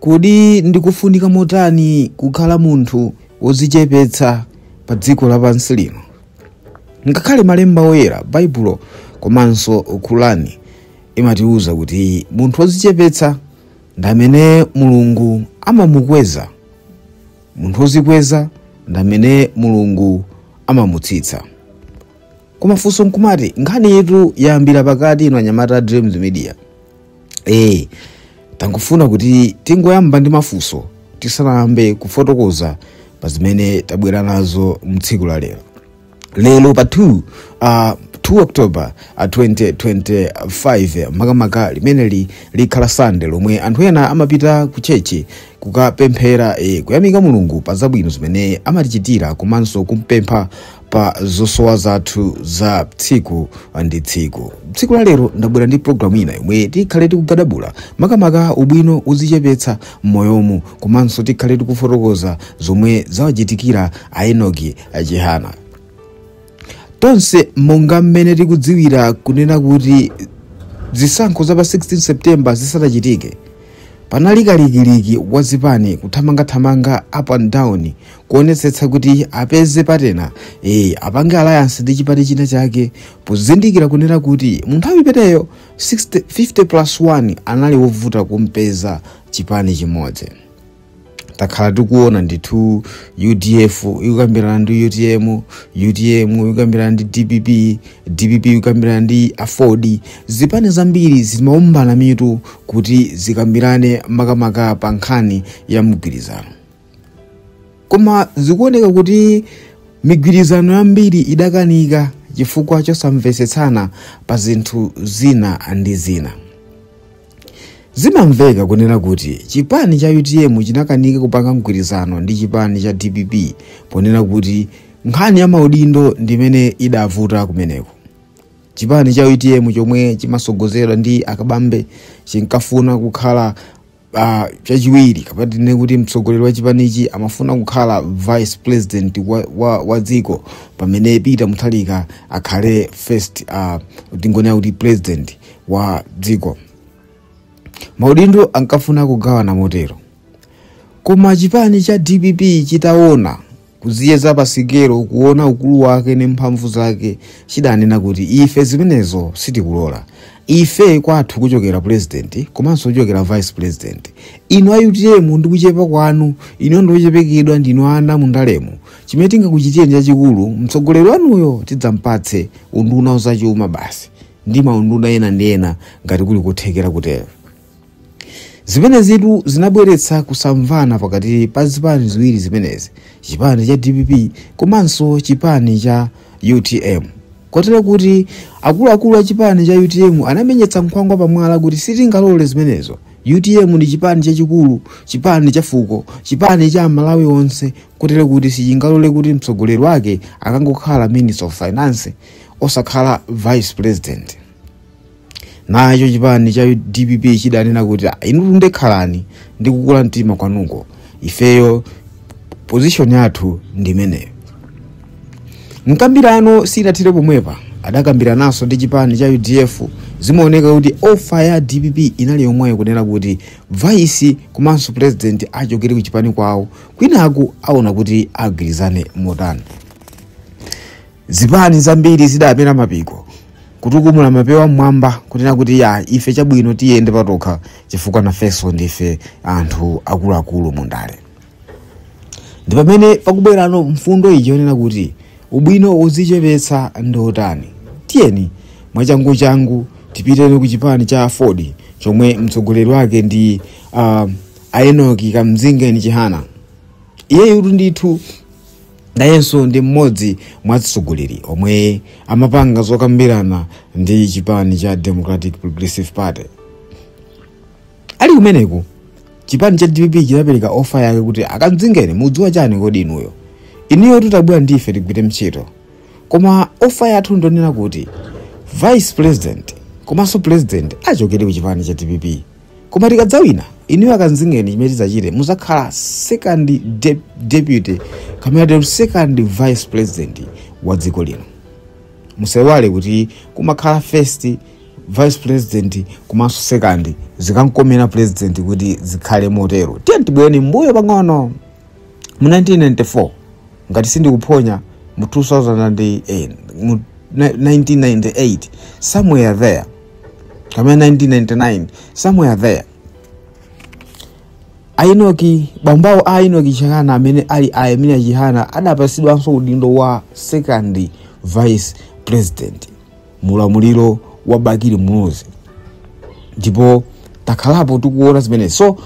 Kodi ndi kofunika motani kukhala munthu wodzichepetsa pa dziko lapansi lino? Ngakhale Malemba Oyera, Baibulo komanso Kurani imatiwuza kuti munthu wodzichepetsa ndi amene Mulungu amamukweza. Munthu wodzikweza ndi amene Mulungu amamutsitsa. Kumafunso nkumati nkhani yetu yayambira pakati ino anyamata a Dreams Media. e tangofuna kuti tingoyamba ndi mafunso tisanayambe kufotokoza pa zimene tabwera nazo mtsiku la lero lero pa 2 uh, 2 october uh, 2025 makamaka limeneli likhala sande lomwe anthu ena amapita ku tchetchi kukapemphera eh, kuyamika mulungu pa zabwino zimene amatichitira komanso kumpempha pa zosowa zathu za tsiku ndi tsiku tsiku la lero ndabwera ndi programu ina yomwe tikhale tikugadabula makamaka ubwino wodzichepetsa m'moyomu komanso tikhale tikufotokoza zomwe zawachitikira aenoki achihana tonse monga mmene tikudziwira kunena kuti zisankho za pa 16 september zisanachitike panali kalikiliki wa zipani kuthamangathamanga up and down kuonetsetsa kuti apeze patena e, apange alliance ndi chipani china chake pozindikira kunena kuti mu nthawi imeneyo 50 plus 1 anali wovuta kumpeza chipani chimodzi takhala tikuona ndithu udf ikukambirana ndi utm utm ikukambirana ndi dpp dpp ikukambirana ndi aford zipani zambiri zimaombana mitu kuti zikambirane makamaka pa nkhani ya mgwirizano koma zikuoneka kuti migwirizano yambiri idakanika chifukwa chosamvetsetsana pa zinthu zina ndi zina zimamveka kunena kuti chipani cha utm chinakanika kupanga mgwirizano ndi chipani cha dpp ponena kuti nkhani ya maudindo ndimene idavuta kumeneko chipani cha utm chomwe chimatsogozedwa ndi akabambe chinkafuna kukhala uh, chachiwiri kapena tinene kuti mtsogoleri wa chipanichi amafuna kukhala vice president wa, wa, wa dziko pamene peter mutharika akhale first uh, tingonena kuti president wa dziko maudindo ankafuna kugawana motero koma chipani cha dpp chitaona kudziyeza pa sikelo kuona ukulu wake ndi mphamvu zake chidanena kuti ife zimenezo sitikulola ife kwathu kuchokera pulezidenti komanso kuchokera vice president inu a utm ndi kuchepa kwanu inu ndi ochepekedwa ndinu ana mundalemo chimene tingakuchitireni chachikulu mtsogoleri wanuyo tidzampatse unduna wazachuma basi ndi maunduna ena ndi ena ngati kuli kothekera kutero zimenezitu zinabweretsa kusamvana pakati pa zipani ziwiri zimenezi chipani cha dpp komanso chipani cha utm kotero kuti akuluakulu a chipani cha utm anamenyetsa nkhwangwa pamwala kuti sitingalole zimenezo utm ndi chipani chachikulu chipani cha fuko chipani cha malawi onse kotero kuti sichingalole kuti mtsogoleri wake akangokhala minister of finance osakhala vice president nacho chipani cha dpp chidanena kuti "Ah, inu nde khalani ndi kukula mtima kwanuko ifeyo position yathu ndi imeneyo mkambirano sinathire pomwepa adakambirananso ndi chipani cha udf zimaoneka kuti ofa ya dpp inali yomweyo kunena kuti vaisi komanso purezidenti achokere ku chipani kwawo kwinaku aona kuti agwirizane motani zipani zambiri zidamera mapiko kutukumula mapewa mmwamba kunena kuti ya ife chabwino tiyende patokha chifukwa nafenso ndife anthu akuluakulu mu ndale ndi pamene pakubwerano mfundo iyi yonena kuti ubwino wodzichepetsa ndi wotani tiyeni mwachanguchangu tipiteni ku chipani cha aford chomwe mtsogoleri wake ndi uh, a enoki kamzingeni chihana iyeyu ndithu Nayenso ndi mmodzi mwa atsogoleri omwe amapanga zokambirana ndi chipani cha Democratic Progressive Party. Ali kumeneku, chipani cha dpp chinapereka ofa yake kuti a Kamzingeni mudziwa chani kodi inuyo. Inuyotu tabwera ndife tigwire ntchito. Koma ofa yathu ndonena kuti Vice President komanso President achokere ku chipani cha dpp. koma tikadzawina inuyo a kamzingeni chimene tidzachite muzakhala second de deputy kapena second vice president wa dziko lino musaiwale kuti kumakhala first vice president komanso second zikankomera president kuti zikhale motero tiye tibwerere mbuyo pang'ono mu 1994 ngati sindikuphonya mu 2008 mu 1998 somewhere there kapena 1999 somewhere there a enoki bambo awo a enoki chihana amene ali a yeremia chihana adapasidwanso udindo wa second vice president mu ulamuliro wa bakili muluzi ndipo takhalapo tikuona zimenezi so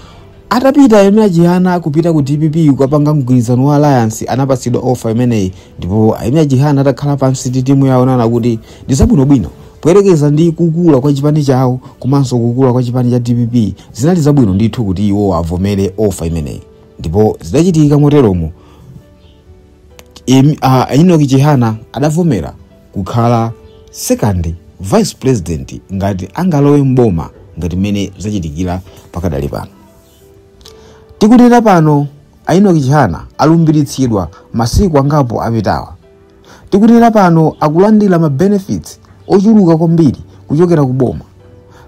atapita a yeremia chihana kupita ku dpp kukapanga mgwirizano wa alliance anapasidwa ofa imeneyi ndipo a yeremia chihana atakhala pansi ndi timu yawo naona kuti ndi zabwinobwino poyerekeza ndi kukula kwa chipani chawo komanso kukula kwa chipani cha dpp zinali zabwino ndithu kuti iwo avomere offer imeneyi ndipo zidachitika moteromo Em- ah, a enock chihana adavomera kukhala second vice president ngati angalowe mboma ngati mmene zachitikira pakadali pano Tikunena pano, a Enock Chihana alumbiritsidwa masiku angapo apitawa. Tikunena pano akulandira ma benefits ochuluka kwambiri kuchokera ku boma.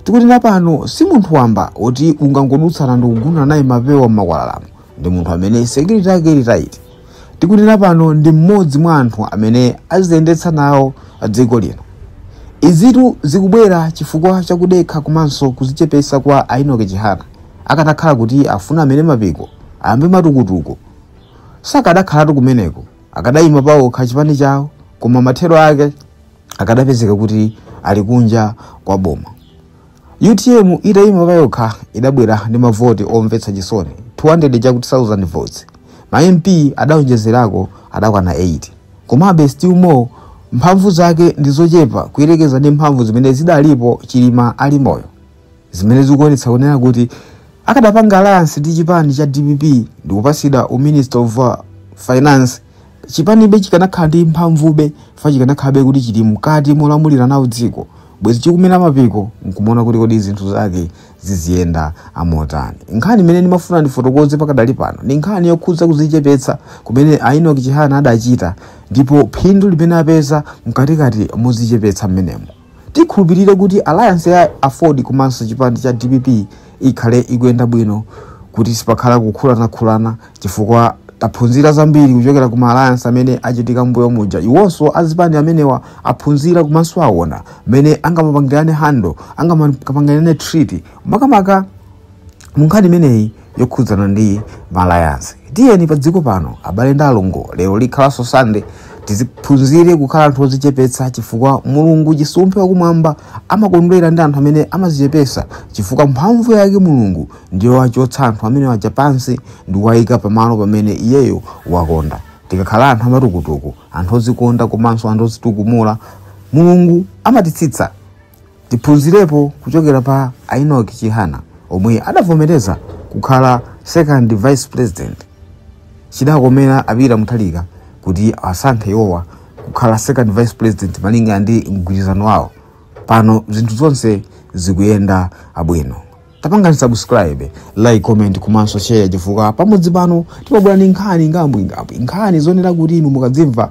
Tikunena pano si munthu wamba oti ungangodutsana ndikugundana naye mapewa m'makwalalamu. Ndi munthu amene security yake ili tight. Tikunena pano ndi mmodzi mwa anthu amene aziyendetsa nawo dziko lino. Izitu zikubwera chifukwa cha kudekha komanso kuzichepesa kwa a Enock Chihana. Akanakhala kuti afuna amere mapiko ayambe matukutuku, sakadakhalatu kumeneko. Akadayima paokha chipani chawo koma mathero ake akadapezeka kuti ali kunja kwa boma. Utm itayima payokha idabwera ndi mavoti omvetsa chisoni 200 chakuti thousand votes. Ma MP adaonjezerako adakwana 8. Komabe still more mphamvu zake ndi zochepa kuyerekeza ndi mphamvu zimene zidalipo Chilima ali moyo. Zimene zikuonetsa kunena kuti akadapanga alliance ndi chipani cha dpp ndikupatsidwa u minister of finance chipanibe chikanakhala ndi mphamvube fa chikanakhalabe kuti chili mkati molamulira nawo dziko bwezi chikumera mapiko nkumaona kuti kodi zinthu zake ziziyenda amotani nkhani imene ndimafuna ndifotokoze pakadali pano ndi nkhani yokhudza kuzichepetsa kumene a enock chihana adachita ndipo phindu limene apeza mkatikati mozichepetsa mmenemo Tikhulupirire kuti alliance ya Aford komanso chipani cha dpp ikhale ikuyenda bwino kuti sipakhala kukhulanakhulana chifukwa taphunzira zambiri kuchokera ku ma alliance amene achitika mbuyo muja. Iwonso azipani amenewa aphunzira komanso awona mmene angamapangirane handle, angamapangirane treat makamaka munkhani imeneyi yokhudzana ndi ma alliance tiyeni pa dziko pano abale ndi alongo lero likhalanso sunday tiziphunzire kukhala anthu ozichepetsa chifukwa mulungu chisumphe wakumwamba amakondwera ndi anthu amene amazichepetsa chifukwa mphamvu yake mulungu ndiyowachotsa anthu amene aja pansi ndi kuwayika pamalo pamene iyeyo wakonda tikakhala anthu amatukutuku anthu ozikonda komanso anthu ozitukumula mulungu amatitsitsa tiphunzirepo kuchokera pa a enock chihana omwe adavomereza kukhala second vice president chidakomera a peter mutharika kuti asankhe iwowa kukhala second vice president malinga ndi mgwirizano wawo pano zinthu zonse zikuyenda abwino tapangani subscribe like comment komanso share chifukwa pamudzi pano timabwera ndi nkhani ngambwingambwi nkhani zonena kuti inu mukadzimva